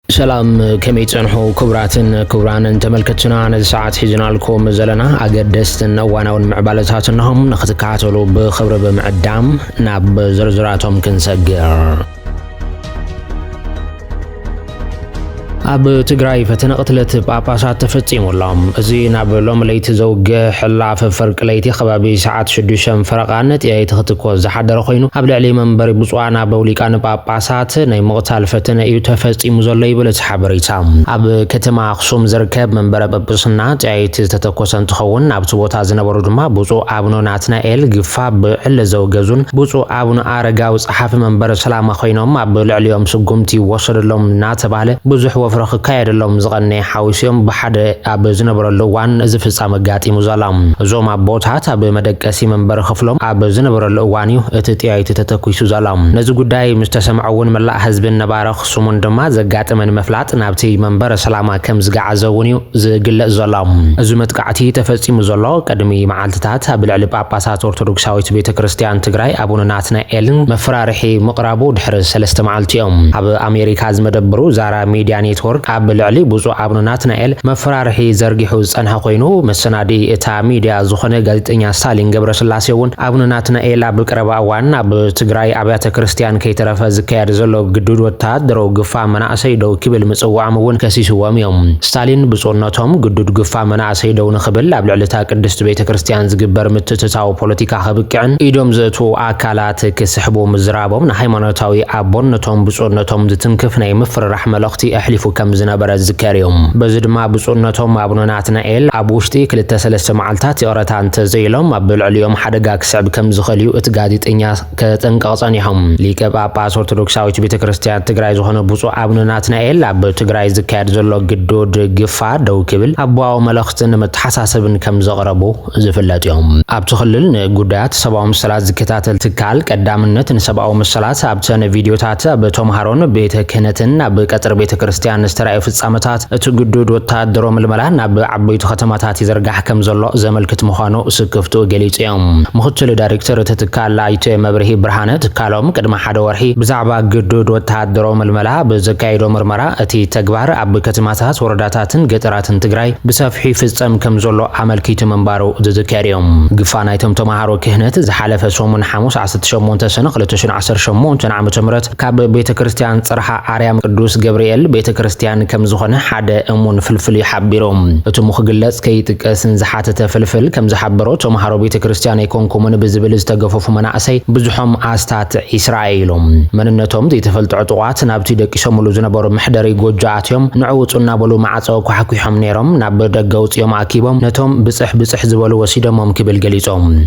ሰላም ከመይ ትጸንሑ ክቡራትን ክቡራንን ተመልከትትና ነዚ ሰዓት ሒዝናልኩም ዘለና ኣገደስትን እዋናውን ምዕባለታት እነሆ ንክትከታተሉ ብኽብሪ ብምዕዳም ናብ ዝርዝራቶም ክንሰግር ኣብ ትግራይ ፈተነ ቅትለት ጳጳሳት ተፈጺሙ ኣሎ። እዚ ናብ ሎሚ ለይቲ ዘውገ ሕላፍ ፍርቂ ለይቲ ከባቢ ሰዓት ሽዱሽተን ፈረቓ ነጥያይቲ ክትኮዝ ዝሓደረ ኮይኑ ኣብ ልዕሊ መንበሪ ብፁዓን ኣበው ሊቃነ ጳጳ ሳት ናይ ምቕታል ፈተነ እዩ ተፈጺሙ ዘሎ ይብል እቲ ሓበሬታ። ኣብ ከተማ ኣኽሱም ዝርከብ መንበረ ጵጵስና ጠያይቲ ዝተተኮሰ እንትኸውን ኣብቲ ቦታ ዝነበሩ ድማ ብፁዕ ኣቡነ ናትናኤል ግፋ ብዕሊ ዘውገዙን ብፁዕ ኣቡነ ኣረጋዊ ጸሓፊ መንበረ ሰላማ ኮይኖም ኣብ ልዕሊኦም ስጉምቲ ይወሰደሎም እናተባህለ ብዙሕ ወፍሪ ክካየደሎም ዝቐነየ ሓዊሱ እዮም ብሓደ ኣብ ዝነበረሉ እዋን እዚ ፍጻመ ኣጋጢሙ ዘሎ። እዞም ኣቦታት ኣብ መደቀሲ መንበሪ ክፍሎም ኣብ ዝነበረሉ እዋን እዩ እቲ ጥይት ተተኲሱ ዘሎ። ነዚ ጉዳይ ምስ ተሰምዖ እውን መላእ ህዝብን ነባሪ ኣኽሱምን ድማ ዘጋጠመ ንምፍላጥ ናብቲ መንበረ ሰላማ ከም ዝገዓዘ እውን እዩ ዝግለጽ ዘሎ። እዚ መጥቃዕቲ ተፈጺሙ ዘሎ ቅድሚ መዓልትታት ኣብ ልዕሊ ጳጳሳት ኦርቶዶክሳዊት ቤተ ክርስቲያን ትግራይ ኣቡነ ናትናኤል መፈራርሒ ምቕራቡ ድሕሪ ሰለስተ መዓልቲ እዩ። ኣብ ኣሜሪካ ዝመደብሩ ዛራ ሚድያ ኔትዎርክ ኣብ ልዕሊ ብፁዕ ኣቡነ ናትናኤል መፈራርሒ ዘርጊሑ ዝጸንሐ ኮይኑ መሰናድኢ እታ ሚድያ ዝኾነ ጋዜጠኛ ስታሊን ገብረስላሴ እውን ኣቡነ ናትናኤል ኣብ ቀረባ እዋን ኣብ ትግራይ ኣብያተ ክርስትያን ከይተረፈ ዝካየድ ዘሎ ግዱድ ወተሃደረዊ ግፋ መናእሰይ ደው ክብል ምፅውዖም እውን ከሲስዎም እዮም። ስታሊን ብፁዕነቶም ግዱድ ግፋ መናእሰይ ደው ንክብል ኣብ ልዕሊ እታ ቅድስቲ ቤተ ክርስትያን ዝግበር ምትእትታው ፖለቲካ ከብቅዕን ኢዶም ዘእትዉ ኣካላት ክስሕቡ ምዝራቦም ንሃይማኖታዊ ኣቦነቶም ብፁዕነቶም ዝትንክፍ ናይ ምፍርራሕ መልእኽቲ ኣሕሊፉ ከምዝነበረ ዝዝከር እዩ። በዚ ድማ ብፁዕነቶም ኣቡነ ናትናኤል ኣብ ውሽጢ ክልተ ሰለስተ መዓልታት ይቕረታ እንተዘይኢሎም ኣብ ልዕሊኦም ሓደጋ ክስዕብ ከምዝኽእል'ዩ እቲ ጋዜጠኛ ከጠንቅቕ ጸኒሑ። ሊቀ ጳጳስ ኦርቶዶክሳዊት ቤተ ክርስቲያን ትግራይ ዝኾነ ብፁዕ ኣቡነ ናትናኤል ኣብ ትግራይ ዝካየድ ዘሎ ግዱድ ግፋ ደው ክብል ኣቦዋዊ መልእኽትን መተሓሳሰብን ከምዘቕረቡ ዝፍለጥ'ዮም። ኣብቲ ክልል ንጉዳያት ሰብኣዊ መሰላት ዝከታተል ትካል ቀዳምነት ንሰብኣዊ መሰላት ኣብተን ቪድዮታት ኣብ ተምሃሮን ቤተ ክህነትን ኣብ ቀጽሪ ቤተ ክርስትያን ዝተራእዩ ፍጻመታት እቲ ግዱድ ወተሃደሮ ምልመላ ናብ ዓበይቱ ከተማታት ይዝርጋሕ ከምዘሎ ዘመልክት ምዃኑ ስክፍትኡ ገሊጹ'ዩ። ምኽትል ዳይሬክተር እቲ ትካል ኣይተ መብርሂ ብርሃነ ትካሎም ቅድሚ ሓደ ወርሒ ብዛዕባ ግዱድ ወተሃደሮ ምልመላ ኣብ ዘካየዶ ምርመራ እቲ ተግባር ኣብ ከተማታት ወረዳታትን ገጠራት ኩነታትን ትግራይ ብሰፍሑ ይፍፀም ከም ዘሎ ኣመልኪቱ ምንባሩ ዝዝከር እዩ። ግፋ ናይቶም ተምሃሮ ክህነት ዝሓለፈ ሰሙን ሓሙስ ዓሰርተ ሸሞንተ ሰነ ክልተ ሽሕን ዓሰርተ ሸሞንተን ዓመተ ምህረት ካብ ቤተ ክርስቲያን ፅርሓ ኣርያም ቅዱስ ገብርኤል ቤተ ክርስቲያን ከም ዝኾነ ሓደ እሙን ፍልፍል እዩ ሓቢሩ። እትሙ ክግለፅ ከይጥቀስ ንዝሓተተ ፍልፍል ከም ዝሓበሮ ተምሃሮ ቤተ ክርስቲያን ኣይኮንኩምን ብዝብል ዝተገፈፉ መናእሰይ ብዝሖም ኣስታት ዒስራ ኢሎም መንነቶም ዘይተፈልጠ ዕጡቓት ናብቲ ደቂሶምሉ ዝነበሩ መሕደሪ ጎጆ ኣትዮም ንዑ ውጹ እናበሉ ማዕጾ ኳሕኲሖም ነይሮም፣ ናብ ደገ ኣውጺኦም ኣኪቦም ነቶም ብጽሕ ብጽሕ ዝበሉ ወሲደሞም ክብል ገሊጹ።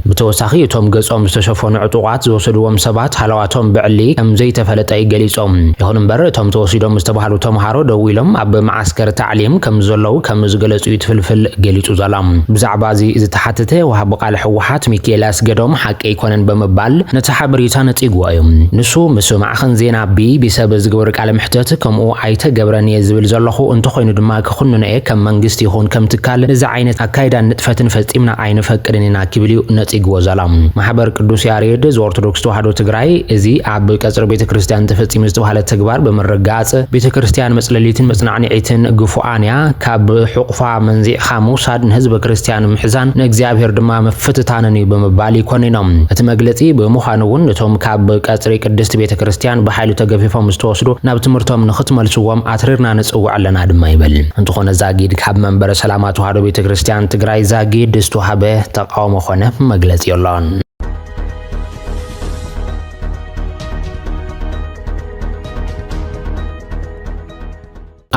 ብተወሳኺ እቶም ገጾም ዝተሸፈኑ ዕጡቓት ዝወሰድዎም ሰባት ሃለዋቶም ብዕሊ ከም ዘይተፈለጠ'ዩ ገሊጹ። ይኹን እምበር እቶም ተወሲዶም ዝተባህሉ ተምሃሮ ደው ኢሎም ኣብ መዓስከር ታዕሊም ከም ዘለዉ ከም ዝገለጹ'ዩ እቲ ፍልፍል ገሊጹ ዘሎ። ብዛዕባ'ዚ ዝተሓተተ ወሃቢ ቃል ህወሓት ሚኪኤል ኣስገዶም ሓቂ ኣይኮነን ብምባል ነቲ ሓበሬታ ነጺግዎ'ዩ። ንሱ ምስ ማዕኸን ዜና ቢቢሲ ኣብ ዝገበሮ ቃለ መሕተት ከምኡ ኣይተገብረን እየ ዝብል ዘለኹ፣ እንተኾይኑ ድማ ክኹንኖ እየ፣ ከም መንግስቲ ይኹን ከም ትካል እዚ ዓይነት ኣካይዳን ንጥፈትን ፈጺምና ኣይንፈቅድን ኢና ኪብል እዩ ነጺግዎ ዘሎ። ማሕበር ቅዱስ ያሬድ ዘኦርቶዶክስ ተዋህዶ ትግራይ እዚ ኣብ ቀጽሪ ቤተ ክርስቲያን ተፈጺሙ ዝተባህለ ተግባር ብምርግጋጽ ቤተ ክርስቲያን መጽለሊትን መጽናዕንዒትን ግፉዓን እያ፣ ካብ ሕቑፋ መንዚዕኻ ምውሳድ ንህዝበ ክርስቲያን ምሕዛን ንእግዚኣብሔር ድማ ምፍትታንን እዩ ብምባል ይኮንኖ እቲ መግለጺ ብምዃኑ እውን እቶም ኣብ ቀጽሪ ቅድስቲ ቤተ ክርስቲያን ብሓይሉ ተገፊፎም ዝተወስዱ ናብ ትምህርቶም ንኽትመልስዎም ኣትሪርና ንጽውዕ ኣለና ድማ ይብል። እንተኾነ ዛጊድ ካብ መንበረ ሰላማ ተዋህዶ ቤተ ክርስቲያን ትግራይ ዛጊድ ዝተዋህበ ተቃውሞ ኮነ መግለጺ የሎን።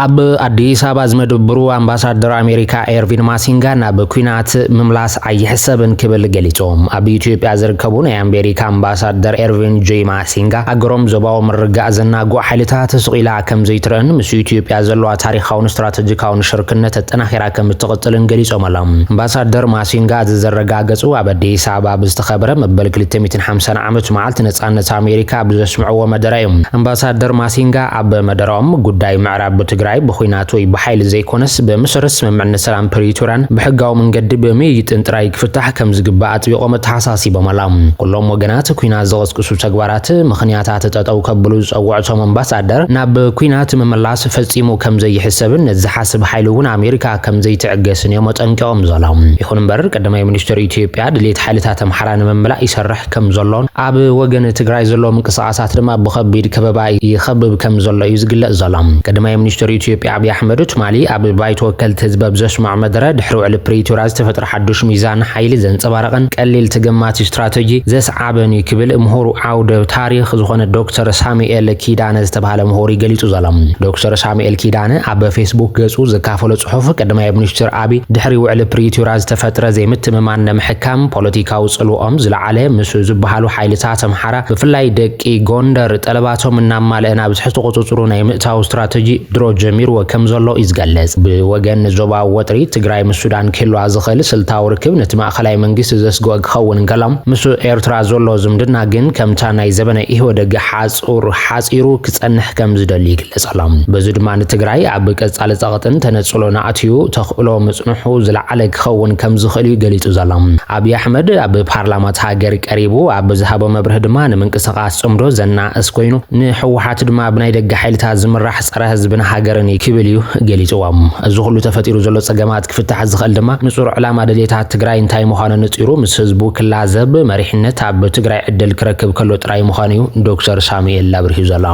ኣብ ኣዲስ ኣበባ ዝመደብሩ ኣምባሳደር ኣሜሪካ ኤርቪን ማሲንጋ ናብ ኩናት ምምላስ ኣይሕሰብን ክብል ገሊጾም። ኣብ ኢትዮጵያ ዝርከቡ ናይ ኣሜሪካ ኣምባሳደር ኤርቪን ጆይ ማሲንጋ ሃገሮም ዞባዊ ምርጋእ ዘናግዑ ሓይልታት ስቑኢላ ከም ዘይትረእን ምስ ኢትዮጵያ ዘለዋ ታሪኻውን ስትራተጂካውን ሽርክነት ኣጠናኺራ ከም እትቕጽልን ገሊጾም ኣሎም። ኣምባሳደር ማሲንጋ እዚ ዘረጋገጹ ኣብ ኣዲስ ኣበባ ኣብ ዝተኸብረ መበል ክልተ ሚእትን ሓምሳን ዓመት መዓልቲ ነጻነት ኣሜሪካ ኣብ ዘስምዕዎ መደረ እዩ። ኣምባሳደር ማሲንጋ ኣብ መደረኦም፣ ጉዳይ ምዕራብ ትግራይ ብኹናት ወይ ብሓይሊ ዘይኮነስ ብመሰረት ስምምዕነት ሰላም ፕሪቶርያን ብሕጋዊ መንገዲ ብምይይጥን ጥራይ ክፍታሕ ከምዝግባእ ኣጥቢቖም ኣተሓሳሲቦም ኣለው። ኩሎም ወገናት ኩናት ዝቕስቅሱ ተግባራት ምኽንያታት ጠጠው ከብሉ ዝጸውዕቶም ኣምባሳደር፣ ናብ ኩናት ምምላስ ፈጺሙ ከምዘይሕሰብን ነዚ ዝሓስብ ሓይሊ እውን ኣሜሪካ ከምዘይትዕገስን እዮም ኣጠንቂቖም ዘለው። ይኹን እምበር ቀዳማይ ሚኒስተር ኢትዮጵያ ድሌት ሓይልታት ኣምሓራ ንምምላእ ይሰርሕ ከም ዘሎን ኣብ ወገን ትግራይ ዘሎ ምንቅስቓሳት ድማ ብኸቢድ ከበባ ይኸብብ ከም ዘሎ እዩ ዝግለጽ ዘሎ። ቀዳማይ ሚኒስተር ኢትዮጵያ ኣብይ ኣሕመድ ትማሊ ኣብ ባይቶ ወከልቲ ህዝቢ ኣብ ዘስምዖ መደረ ድሕሪ ውዕሊ ፕሪቶርያ ዝተፈጥረ ሓዱሽ ሚዛን ሓይሊ ዘንጸባረቐን ቀሊል ተገማቲ ስትራተጂ ዘስዓበን እዩ ክብል ምሁር ዓውደ ታሪኽ ዝኾነ ዶክተር ሳሙኤል ኪዳነ ዝተባህለ ምሁር እዩ ገሊጹ ዘሎ። ዶክተር ሳሙኤል ኪዳነ ኣብ ፌስቡክ ገጹ ዘካፈሎ ጽሑፍ ቀዳማይ ሚኒስተር ኣብይ ድሕሪ ውዕሊ ፕሪቶርያ ዝተፈጥረ ዘይምትምማን ንምሕካም ፖለቲካ ፖለቲካዊ ጽልወኦም ዝለዓለ ምስ ዝበሃሉ ሓይልታት ኣምሓራ ብፍላይ ደቂ ጎንደር ጠለባቶም እናማልአ ናብ ትሕቲ ቁጽጽሩ ናይ ምእታው ስትራተጂ ድሮ ጀሚርዎ ከም ዘሎ እዩ ዝገልጽ። ብወገን ዞባዊ ወጥሪ፣ ትግራይ ምስ ሱዳን ክህልዋ ዝኽእል ስልታዊ ርክብ ነቲ ማእከላይ መንግስቲ ዘስግኦ ክኸውን እንከሎ፣ ምስ ኤርትራ ዘሎ ዝምድና ግን ከምታ ናይ ዘበነ ኢህወደግ ሓጹር ሓጺሩ ክጸንሕ ከም ዝደሊ ይግለጽ። ንጸሎ። በዚ ድማ ንትግራይ ኣብ ቀጻሊ ጸቕጥን ተነጽሎን ኣእትዩ ተኽእሎ ምጽንሑ ዝለዓለ ክኸውን ከም ዝኽእል እዩ ገሊጹ ዘሎ። ኣብይ ኣሕመድ ኣብ ፓርላማ እታ ሃገር ቀሪቡ ኣብ ዝሃቦ መብርሂ ድማ ንምንቅስቓስ ጽምዶ ዘናእስ ኮይኑ ንህወሓት ድማ ብናይ ደገ ሓይልታት ዝምራሕ ጸረ ህዝብን ሃገርን እዩ ክብል እዩ ገሊጽዎ። እዚ ኩሉ ተፈጢሩ ዘሎ ጸገማት ክፍታሕ ዝኽእል ድማ ንጹር ዕላማ ድልየታት ትግራይ እንታይ ምዃኑ ኣነጺሩ ምስ ህዝቡ ክላዘብ መሪሕነት ኣብ ትግራይ ዕድል ክረክብ ከሎ ጥራይ ምዃኑ እዩ ዶክተር ሳሙኤል ኣብሪሁ ዘሎ።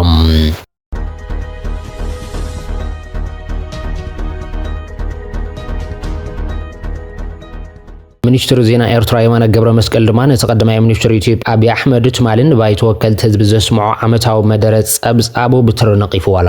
ሚኒስትር ዜና ኤርትራ የማነ ገብረ መስቀል ድማ ነቲ ቀዳማይ ሚኒስትር ኢትዮጵያ ኣብዪ ኣሕመድ ትማሊ ንባይቶ ወከልቲ ህዝቢ ዘስምዖ ዓመታዊ መደረ ጸብጻቡ ብትሪ ነቒፍዎ ኣሎ።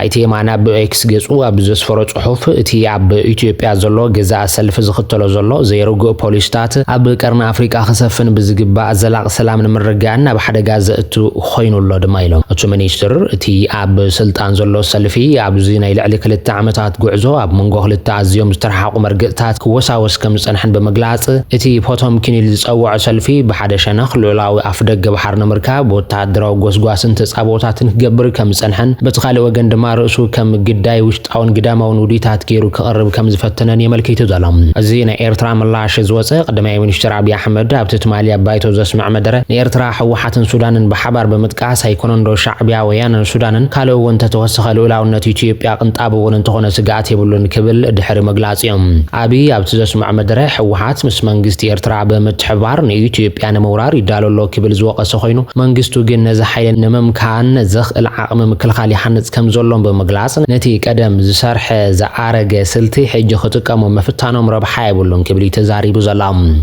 ኣይተ የማነ ኣብ ኤክስ ገጹ ኣብ ዘስፈሮ ጽሑፍ እቲ ኣብ ኢትዮጵያ ዘሎ ገዛእ ሰልፊ ዝኽተሎ ዘሎ ዘይርጉእ ፖሊስታት ኣብ ቀርኒ ኣፍሪቃ ክሰፍን ብዝግባእ ዘላቕ ሰላም ንምርግጋእን ናብ ሓደጋ ዘእቱ ኾይኑ ኣሎ ድማ ኢሎም። እቱ ሚኒስትር፣ እቲ ኣብ ስልጣን ዘሎ ሰልፊ ኣብዚ ናይ ልዕሊ ክልተ ዓመታት ጉዕዞ ኣብ መንጎ ክልተ ኣዝዮም ዝተረሓሓቑ መርገፂታት ክወሳወስ ከምዝፀንሐን ብምግላፅ፣ እቲ ፖቶምኪን ኢሉ ዝፀወዖ ሰልፊ ብሓደ ሸነኽ ልኡላዊ ኣፍደገ ባሕሪ ንምርካብ ወታሃደራዊ ጎስጓስን ተፃብኦታትን ክገብር ከምዝፀንሐን በቲ ካሊእ ወገን ድማ ርእሱ ከም ግዳይ ጣውን ግዳማውን ውዲታት ገይሩ ክቕርብ ከም ዝፈተነን የመልኪቱ ዘሎ። እዚ ናይ ኤርትራ ምላሽ ዝወጸ፣ ቀዳማይ ሚኒስተር ኣብይ ኣሕመድ ኣብቲ ትማሊ ኣብ ባይቶ ዘስምዐ መደረ፣ ንኤርትራ ህወሓትን ሱዳንን ብሓባር ብምጥቃስ፣ ኣይኮነንዶ ሻዕቢያ፣ ወያነን ሱዳንን፣ ካልእ እውን እንተተወሰኸ ልኡላውነት ኢትዮጵያ ቅንጣብ እውን እንተኾነ ስግኣት የብሉን ክብል ድሕሪ ምግላጹ'ዩ። ኣብይ ኣብቲ ዘስምዖ መደረ፣ ህወሓት ምስ መንግስቲ ኤርትራ ብምትሕብባር ንኢትዮጵያ ንምውራር ይዳሎ ኣሎ ክብል ዝወቐሰ ኮይኑ፣ መንግስቱ ግን ነዚ ሓይሊ ንምምካን ዘኽእል ዓቕሚ ምክልኻል ይሃንጽ ከም ዘሎን ብምግላጽ፣ ነቲ ቀደም ዝሰርሐ ዝኣረገ ስልቲ ሕጂ ክጥቀሙ ምፍታኖም ረብሓ የብሉን ክብል'ዩ ተዛሪቡ ዘሎ።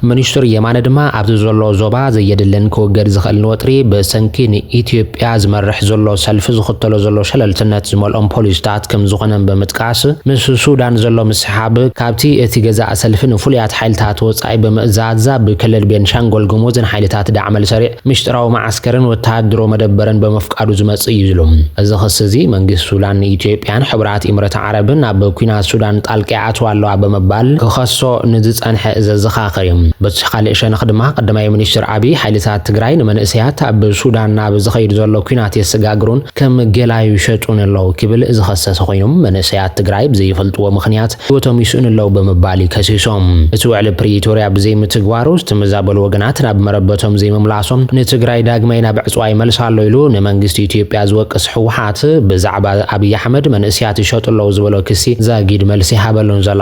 ሚኒስትር የማነ ድማ ኣብ'ቲ ዘሎ ዞባ ዘየድልን ክውገድ ዝኽእልን ወጥሪ ብሰንኪ ንኢትዮጵያ ዝመርሕ ዘሎ ሰልፊ ዝኽተሎ ዘሎ ሸለልትነት ዝመልኦም ፖሊሲታት ከም ዝኾነን ብምጥቃስ፣ ምስ ሱዳን ዘሎ ምስሕሓብ ካብ'ቲ እቲ ገዛኢ ሰልፊ ንፍሉያት ሓይልታት ወጻኢ ብምእዛዝ ኣብ ክልል ቤንሻንጎል ጉሙዝ ንሓይልታት ዳዕመል ሰሪዕ ምሽጥራዊ መዓስከርን ወተሃድሮ መደበርን በመፍቃዱ ዝመጽእ እዩ ዝሉ እዚ ክሲ እዚ መንግስቲ ሱዳን ንኢትዮጵያን ሕቡራት ኢምረት ዓረብን ኣብ ኩናት ሱዳን ጣልቃ ይኣትዋ ኣለዋ በመባል ክኸሶ ንዝጸንሐ ዘዘኻኽር እዩ። በቲ ኻሊእ ሸነኽ ድማ ቀዳማይ ሚኒስትር ኣብይ ሓይልታት ትግራይ ንመንእሰያት ኣብ ሱዳን ናብ ዝኸይድ ዘሎ ኩናት የሰጋግሩን ከም ገላ ይሸጡን ኣለው ክብል ዝኸሰሰ ኾይኑ መንእሰያት ትግራይ ብዘይፈልጥዎ ምኽንያት ህይወቶም ይስእኑ ኣለዉ ብምባል እዩ ከሲሶም። እቲ ውዕሊ ፕሪቶርያ ብዘይምትግባሩ ዝተመዛበሉ ወገናት ናብ መረበቶም ዘይምምላሶም ንትግራይ ዳግማይ ናብ ዕፅዋ ይመልሳ ኣሎ ኢሉ ንመንግስቲ ኢትዮጵያ ዝወቅስ ህወሓት ብዛዕባ ኣብይ ኣሕመድ መንእሰያት ይሸጡ ኣለዉ ዝበሎ ክሲ ዛጊድ መልሲ ይሃበሉን ዘሎ።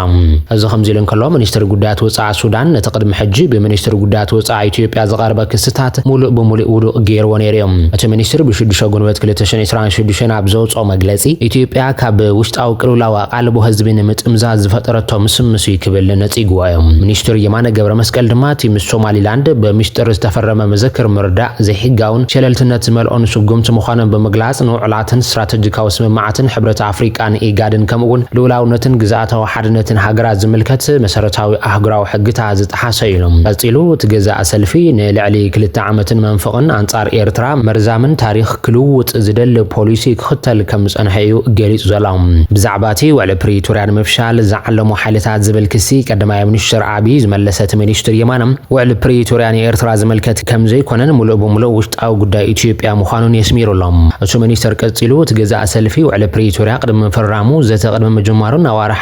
እዚ ከምዚ ኢሉ እንከሎ ሚኒስትሪ ጉዳያት ወፃኢ ሱዳን ነቲ ቅድሚ ሕጂ ብሚኒስትሪ ጉዳያት ወፃኢ ኢትዮጵያ ዝቐርበ ክስታት ሙሉእ ብሙሉእ ውዱቕ ገይርዎ ነይሩ እዩ። እቲ ሚኒስትሪ ብሽዱሽተ ጉንበት ክልተ ሽሕን ዕስራን ሽዱሽተን ኣብ ዘውፅኦ መግለፂ ኢትዮጵያ ካብ ውሽጣዊ ቅልውላው ኣልቦ ህዝቢ ንምጥምዛዝ ዝፈጠረቶ ምስምስ እዩ ክብል ነጺግዋ እዩ። ሚኒስትር የማነ ገብረመስቀል ድማ እቲ ምስ ሶማሊላንድ ብሚስጥር ዝተፈረመ ምዝክር ምርዳእ ዘይሕጋውን ሸለልትነት ዝመልኦን ስጉምቲ ምዃኑን ብምግላጽ ንውዕላትን ስትራተጂካዊ ስምምዓትን ሕብረት ኣፍሪቃን ኢጋድን ከምኡ'ውን ልኡላውነትን ግዝኣታዊ ሓድነትን ሃገራት ዝምልከት መሰረታዊ ኣህጉራዊ ሕግታት ዝጠሓሰ እዩ ኢሉ። ቀጺሉ እቲ ገዛኢ ሰልፊ ንልዕሊ ክልተ ዓመትን መንፍቕን ኣንጻር ኤርትራ መርዛምን ታሪኽ ክልውጥ ዝደሊ ፖሊሲ ክኽተል ከም ዝጸንሐ እዩ ገሊጹ ዘሎ። ብዛዕባ እቲ ውዕሊ ፕሪቶርያ ንምፍሻል ዝዓለሙ ሓይልታት ዝብል ክሲ ቀዳማይ ሚኒስተር ኣቢይ ዝመለሰ እቲ ሚኒስትር የማነ፣ ውዕሊ ፕሪቶርያ ንኤርትራ ዝምልከት ከም ዘይኮነን ምሉእ ብምሉእ ውሽጣዊ ጉዳይ ኢትዮጵያ ምዃኑን የስሚሩ ኣሎ። እቲ ሚኒስተር ቀጺሉ፣ እቲ ገዛኢ ሰልፊ ውዕሊ ፕሪቶርያ ቅድሚ ምፍራሙ፣ ዘተ ቅድሚ ምጅማሩን ኣዋርሕ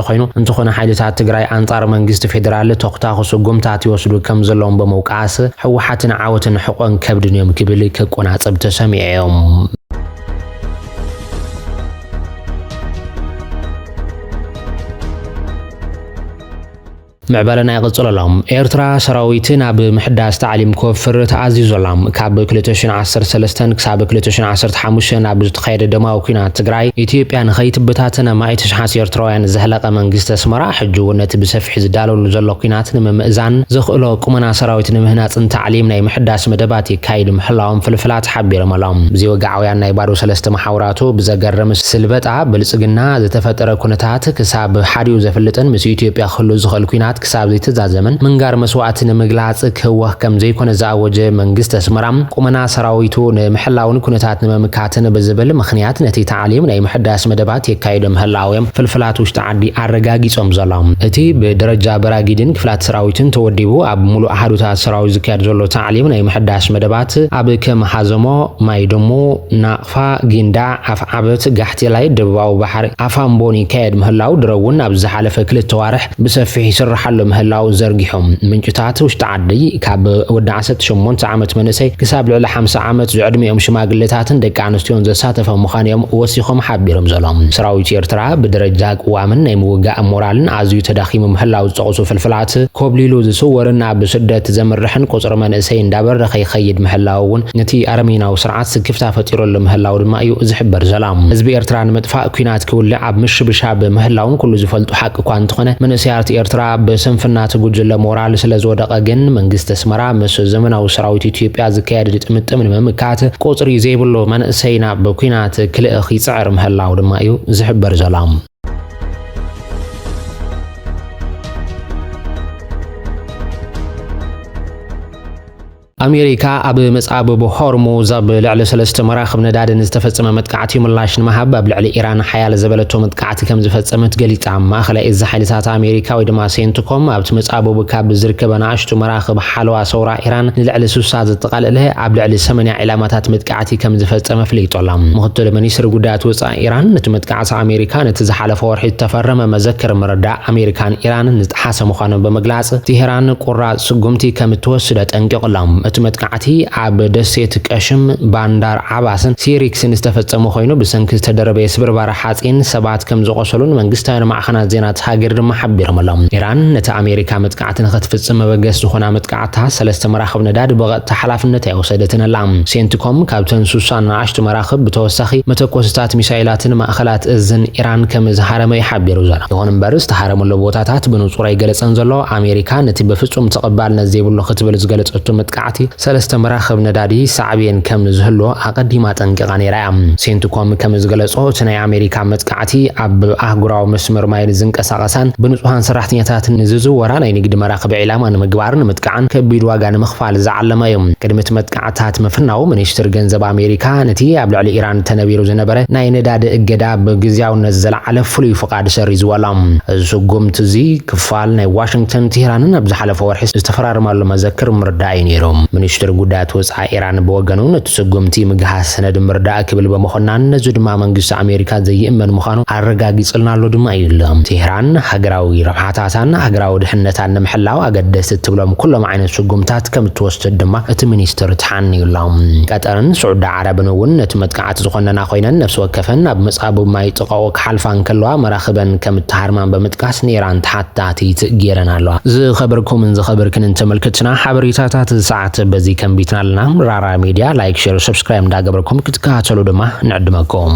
ኮይኑ እንተኾነ ሓይልታት ትግራይ ኣንፃር መንግስቲ ፌደራል ተኹታኹ ስጉምታት ይወስዱ ከምዘለዎም ብምውቃስ ህወሓትን ዓወትን ሕቆን ከብድን እዮም ክብል ክቆናፀብ ተሰሚዑ እዩ። ምዕባለና ይቕጽል ኣሎ። ኤርትራ ሰራዊት ናብ ምሕዳስ ታዕሊም ክወፍር ተኣዚዙ ኣላ። ካብ ክልተ ሽን ዓሰርተ ሰለስተን ክሳብ ክልተ ሽን ዓሰርተ ሓሙሽተን ኣብ ዝተኻየደ ደማዊ ኲናት ትግራይ ኢትዮጵያ ንኸይትበታተን ኣማኢት ኣሽሓት ኤርትራውያን ዘህለቐ መንግስቲ ኣስመራ ሕጂ'ውን ነቲ ብሰፊሑ ዝዳለወሉ ዘሎ ኲናት ንምምእዛን ዘኽእሎ ቁመና ሰራዊት ንምህናጽን ታዕሊም ናይ ምሕዳስ መደባት የካይዱ ምህላዎም ፍልፍላት ሓቢሮም ኣለው። ብዘይወግዓውያን ናይ ባዶ ሰለስተ መሓውራቱ ብዘገርም ስልበጣ ብልጽግና ዝተፈጠረ ኩነታት ክሳብ ሓዲኡ ዘፍልጥን ምስ ኢትዮጵያ ክህሉ ዝኽእል ኲናት ክሳብ ዘይተዛዘመን ምንጋር መስዋእቲ ንምግላጽ ክህወኽ ከም ዘይኮነ ዝኣወጀ መንግስቲ ኣስመራ፣ ቁመና ሰራዊቱ ንምሕላውን ኩነታት ንምምካትን ብዝብል ምኽንያት ነቲ ታዕሊም ናይ ምሕዳስ መደባት የካይዶ ምህላው'ዮም ፍልፍላት ውሽጢ ዓዲ ኣረጋጊጾም ዘሎም። እቲ ብደረጃ በራጊድን ክፍላት ሰራዊትን ተወዲቡ ኣብ ምሉእ ኣሃዱታት ሰራዊት ዝካየድ ዘሎ ታዕሊም ናይ ምሕዳስ መደባት ኣብ ከም ሃዘሞ፣ ማይድሙ፣ ፋ ጊንዳዕ፣ ኣፍዓበት፣ ጋሕቴላይ፣ ደቡባዊ ባሕሪ፣ ኣፋምቦን ይካየድ ምህላው ድሮ'ውን ኣብ ዝሓለፈ ክልተ ኣዋርሕ ብሰፊሕ ይስርሓሉ ምህላው ዘርጊሑ። ምንጭታት ውሽጢ ዓዲ ካብ ወዲ ዓሰርተ ሸሞንተ ዓመት መንእሰይ ክሳብ ልዕሊ ሓምሳ ዓመት ዝዕድሚኦም ሽማግሌታትን ደቂ ኣንስትዮን ዘሳተፈ ምዃኑ'ዮም ወሲኾም ሓቢሮም ዘሎም። ሰራዊት ኤርትራ ብደረጃ ቅዋምን ናይ ምውጋእ ሞራልን ኣዝዩ ተዳኺሙ ምህላው ዝጠቕሱ ፍልፍላት፣ ኮብሊሉ ዝስወርን ናብ ስደት ዘምርሕን ቁጽሪ መንእሰይ እንዳበረኸ ይኸይድ ምህላው'ውን እቲ ኣረሜናዊ ስርዓት ስክፍታ ፈጢረሉ ምህላዉ ድማ እዩ ዝሕበር ዘላ። ህዝቢ ኤርትራ ንምጥፋእ ኩናት ክውልዕ ኣብ ምሽብሻብ ምህላዉን ኩሉ ዝፈልጦ ሓቂ እኳ እንተኾነ መንእሰያት ኤርትራ ብስንፍና እቲ ጉጅለ ሞራል ስለ ዝወደቐ ግን መንግስቲ ኣስመራ ምስ ዘመናዊ ሰራዊት ኢትዮጵያ ዝካየድ ግጥምጥም ንምምካት ቁጽሪ ዘይብሉ መንእሰይ ናብ ኩናት ክልእኽ ይጽዕር ምህላዉ ድማ እዩ ዝሕበር ዘላ። ኣሜሪካ ኣብ መጻብብ ሆርሙዝ ኣብ ልዕሊ ሰለስተ መራኽብ ነዳዲ ንዝተፈጸመ መጥቃዕቲ ምላሽ ንምሃብ ኣብ ልዕሊ ኢራን ሓያል ዘበለቶ መጥቃዕቲ ከም ዝፈጸመት ገሊጻ። ማእኸላይ እዝ ሓይልታት ኣሜሪካ ወይ ድማ ሴንትኮም ኣብቲ መጻብብ ካብ ዝርከበ ንኣሽቱ መራኽብ ሓለዋ ሰውራ ኢራን ንልዕሊ ስሳ ዘጠቓለለ ኣብ ልዕሊ ሰመንያ ዒላማታት መጥቃዕቲ ከም ዝፈጸመ ኣፍሊጡ ኣሎ። ምኽትል ሚኒስትሪ ጉዳያት ወጻኢ ኢራን ነቲ መጥቃዕቲ ኣሜሪካ ነቲ ዝሓለፈ ወርሒ ዝተፈረመ መዘክር ምርዳእ ኣሜሪካን ኢራንን ዝጠሓሰ ምዃኑ ብምግላጽ፣ ቴህራን ቁራጽ ስጉምቲ ከም እትወስድ ኣጠንቂቑ ኣሎ። እቲ መጥቃዕቲ ኣብ ደሴት ቀሽም፣ ባንዳር ዓባስን ሲሪክስን ዝተፈጸመ ኮይኑ፣ ብሰንኪ ዝተደረበየ ስብርባር ሓጺን ሰባት ከም ዝቖሰሉን መንግስታውያን ማዕኸናት ዜና እታ ሃገር ድማ ሓቢሮም ኣለው። ኢራን ነቲ ኣሜሪካ መጥቃዕቲ ኣቲ ንኸትፍጽም መበገሲ ዝኾና መጥቃዕትታ ሰለስተ መራኽብ ነዳዲ ብቐጥታ ሓላፍነት ኣይወሰደትን ኣላ። ሴንትኮም ካብተን ሱሳ ንኣሽቱ መራኽብ ብተወሳኺ መተኮሲታት ሚሳይላትን ማእኸላት እዝን ኢራን ከም ዝሃረመ እዩ ሓቢሩ ዘሎ። ይኹን እምበር ዝተሃረመሉ ቦታታት ብንጹር ኣይገለጸን ዘሎ። ኣሜሪካ ነቲ ብፍጹም ተቐባልነት ዘይብሉ ክትብል ዝገለጸቶ መጥቃዕቲ ሰለስተ መራኽብ ነዳዲ ሳዕቤን ከም ዝህልዎ ኣቐዲማ ኣጠንቂቓ ነይራ እያ። ሴንትኮም ከም ዝገለጾ፣ እቲ ናይ ኣሜሪካ መጥቃዕቲ ኣብ ኣህጉራዊ መስመር ማይ ንዝንቀሳቐሳን ብንጹሃን ሰራሕተኛታት ንዝዝወራ ናይ ንግዲ መራኽብ ዒላማ ንምግባርን ንምጥቃዕን ከቢድ ዋጋ ንምኽፋል ዝዓለመ እዩ። ቅድሚ እቲ መጥቃዕትታት ምፍናዉ፣ ሚኒስትሪ ገንዘብ ኣሜሪካ ነቲ ኣብ ልዕሊ ኢራን ተነቢሩ ዝነበረ ናይ ነዳዲ እገዳ ብግዝያውነት ዘልዓለ ፍሉይ ፍቓድ ሰሪዝዎ ኣሎ። እዚ ስጉምቲ እዚ፣ ቃል ናይ ዋሽንግተንን ቴህራንን ኣብ ዝሓለፈ ወርሒ ዝተፈራረማሉ መዘክር ምርዳእ እዩ ነይሩ። ሚኒስትሪ ጉዳያት ወጻኢ ኢራን ብወገኑ ነቲ ስጉምቲ ምግሃስ ሰነድ ምርዳእ ክብል ብምኹናን ነዚ ድማ መንግስቲ ኣሜሪካ ዘይእመን ምዃኑ ኣረጋጊጽልና ኣሎ ድማ እዩ ኢሉ። ቴህራን ሃገራዊ ረብሓታታን ሃገራዊ ድሕነታን ንምሕላው ኣገደስቲ እትብሎም ኩሎም ዓይነት ስጉምትታት ከም እትወስድ ድማ እቲ ሚኒስትር ተሓንዩ ኣሎ። ቀጠርን ስዑዲ ዓረብን እውን ነቲ መጥቃዕቲ ዝኾነና ኮይነን ነፍሲ ወከፈን ኣብ መጻብብ ማይ ጥቓኡ ሓልፋ እንከለዋ መራኽበን ከም እተሃርማን ብምጥቃስ ንኢራን ተሓታቲት ገይረን ኣለዋ። ዝኸበርኩምን ዝኸበርክንን ተመልከትትና ሓበሬታታት እዚ ሰዓት በዚ ከንቢትና ኣለና። ራራ ሚድያ ላይክ ሼር ሰብስክራይብ እንዳገበርኩም ክትከታተሉ ድማ ንዕድመኩም።